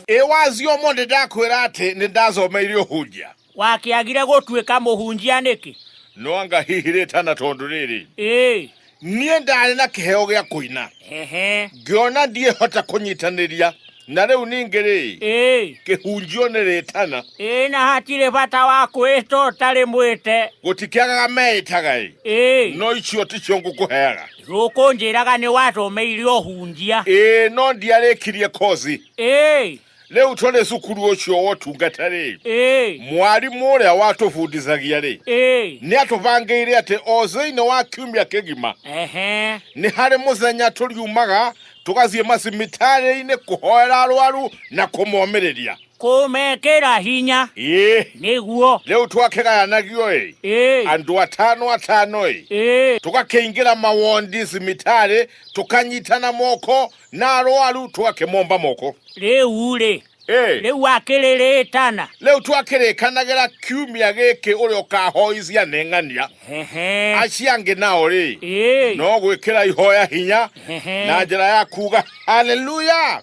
Ĩwazi ũmũ nĩndakwĩra atĩ nĩndathomeirio hunjia. Wakĩagire gũtuĩka mũhunjia nĩkĩ? No anga hihi rĩtana tondũ rĩrĩ. Ĩĩ. Niĩ ndarĩ na kĩheo gĩa kũina. Ehe. Ngĩona ndiĩhota kũnyitanĩria na rĩu ningĩ rĩ kĩhunjio nĩ rĩtana ĩĩ na hatirĩ bata wa kwĩta ũtarĩ mwĩte gũtikĩagaga meĩtaga ĩ no icio ticio ngũkũheaga Gũkũ njĩraga nĩ watũmĩire ũhunjia. Ĩĩ no ndiarĩkirie kozi. Ĩĩ. Rĩu tũrĩ cukuru ũcio wa ũtungata rĩ. Ĩĩ. Mwarimũ ũrĩa watũbundithagia rĩ. Ĩĩ. Nĩ atũbangĩire atĩ o thĩinĩ wa kiumia kĩgima. Ehe. Nĩ harĩ mũthenya tũriumaga tũgathiĩ macibitarĩ-inĩ kũhoera arwaru na kũmomĩrĩria. Kũmekĩra hinya Ĩĩ. nĩguo. Rĩu twakĩgayanagio-ĩ, Ĩĩ. andũ atano atano-ĩ, Ĩĩ. tũgakĩingĩra mawondi cimitarĩ, tũkanyitana moko na arwaru tũgakĩmomba moko. Rĩu-rĩ, Ĩĩ. rĩu akĩrĩrĩtana. Rĩu twakĩrĩkanagĩra kiumia gĩkĩ ũrĩa ũkahoi cianeng'ania, Hehe. acio angĩ nao-rĩ, Ĩĩ. no gwĩkĩra ihoya hinya Hehe. na njĩra ya kuuga haleluya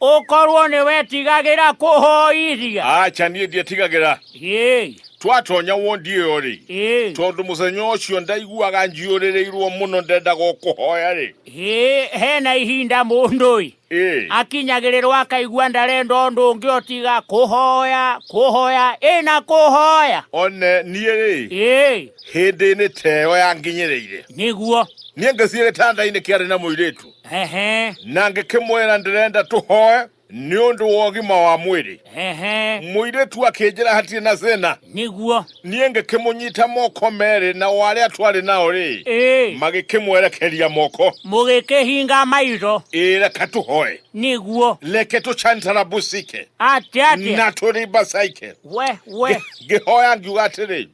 Ũkorwo nĩ wetigagĩra kũhoithia. Acha niĩ ndiĩtigagĩra. Ĩĩ. Twatonya wondi ĩyo-rĩ. Ĩĩ. Tondũ mũthenya ũcio ndaiguaga njiyũrĩrĩirwo mũno ndendaga o kũhoya-rĩ. Ĩĩ, hena ihinda mũndũ-ĩ. Ĩĩ. Akinyagĩrĩrwo akaigua ndarenda ũndũ ũngĩ o tiga kũhoya, kũhoya, ĩ na kũhoya. One niĩ-rĩ. Ĩĩ. Hĩndĩ-inĩ ta ĩyo yanginyĩrĩire. Nĩguo. Niĩ ngĩthiĩ gĩtanda-inĩ kĩarĩ na mũirĩtu. na ngĩkĩmwĩra ndĩrenda tũhoe nĩ ũndũ wa ũgima wa mwĩrĩ mũirĩtu akĩnjĩra hatirĩ na thĩna nĩguo niĩ ngĩkĩmũnyita moko merĩ na warĩa twarĩ nao rĩ magĩkĩmwerekeria moko mũgĩkĩhinga maitho ĩĩ reka tũhoe nĩguo reke tũcantarabusike atĩatĩa na tũrimbacaike we we ngĩhoya ngiuga atĩrĩ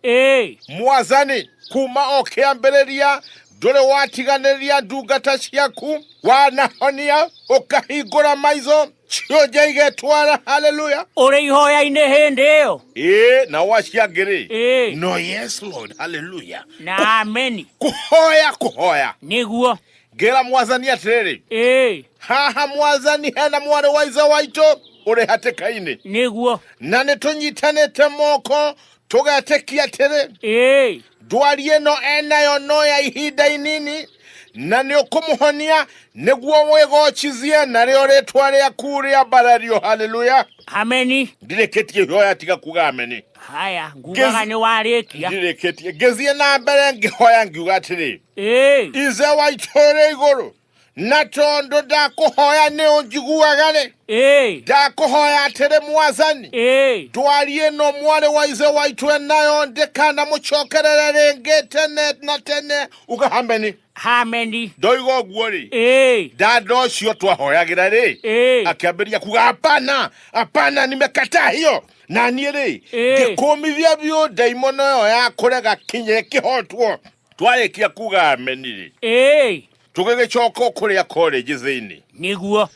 mwathani kuma o kĩambĩrĩria ndũrĩ watiganĩria ndungata ciaku wanahonia ũkahingũra maitho cionje igetwara haleluya ũrĩ ihoya-inĩ hĩndĩ ĩyo ĩĩ na waciangĩrĩ Ĩĩ. no yes lord haleluya na ameni kũhoya kũhoya nĩguo ngĩra mwathani atĩrĩrĩ ĩĩ haha mwathani hena mwarĩ wa ithe waitũ ũrĩ hatĩka-inĩ nĩguo na nĩ tũnyitanĩte moko tũgetĩkia atĩrĩ Ĩĩ. ndwari ĩno enayo no ya ihinda inini na nĩ ũkũmũhonia nĩguo wĩgochizie narĩo rĩtwa rĩaku rĩa mbarario haleluya Ameni. ndirĩkĩtie ihoya tiga kuga ameni Haya, ngugaga Ngezi- nĩ warĩkia. ndirĩkĩtie ngĩthiĩ na mbere ngĩhoya ngiuga atĩrĩ Ĩĩ. ithe wa itũũrĩ igũrũ na tondũ ndakũhoya nĩ ũnjiguaga rĩ ĩĩ ndakũhoya atĩrĩ mwathani ĩĩ ndwari ĩno mwarĩ wa ithe waitũ enayo ndĩkanamũcokerere rĩngĩ tene na tene uga hameni hameni ndoiga ũguo rĩ ĩĩ dada ũcio twahoyagĩra rĩ ĩĩ akĩambĩrĩria kuga hapana hapana nimekataa hiyo na niĩ rĩ Ĩĩ. ngĩkũmithia biũ ndaimono ĩyo ya kũrega kinya ĩkĩhotwo twarĩkia kuga ameni-rĩ ĩĩ tũgĩgĩcoka kũrĩa korĩnji thĩinĩ nĩguo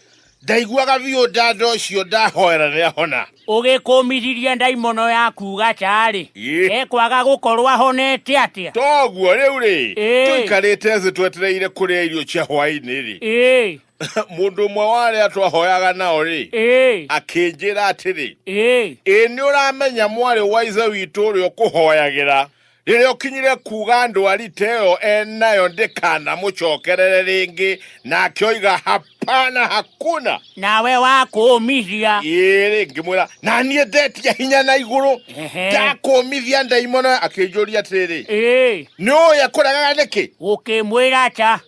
ndaiguaga biũ ndanda ũcio ndahoera nĩahona ũgĩkũmithirie ndaimono ya kuga tarĩ Ĩ. ekwaga gũkorwo ahonete atĩa toguo rĩu-rĩ Ĩ. tũikarĩte thĩ twetereire kũrĩa irio cia hwaĩ-inĩ-rĩ ĩĩ mũndũ ũmwe wa arĩa twahoyaga nao-rĩ ĩĩ akĩnjĩra atĩrĩ ĩĩ ĩ nĩ ũramenya mwarĩ wa ithe witũ ũrĩa ũkũhoyagĩra rĩrĩa ũkinyire kuuga ndwarite ĩyo enayo ndĩkanamũcokerere rĩngĩ nake oiga hapana hakuna nawe wakũũmithia ĩĩ rĩngĩ mwĩra na niĩ ndetia hinya na igũrũ Ehe. ndakũmithia ndaimono akĩnjũria atĩrĩrĩ ĩĩ nĩ ũũya kũregaga nĩkĩ gũkĩmwĩra ata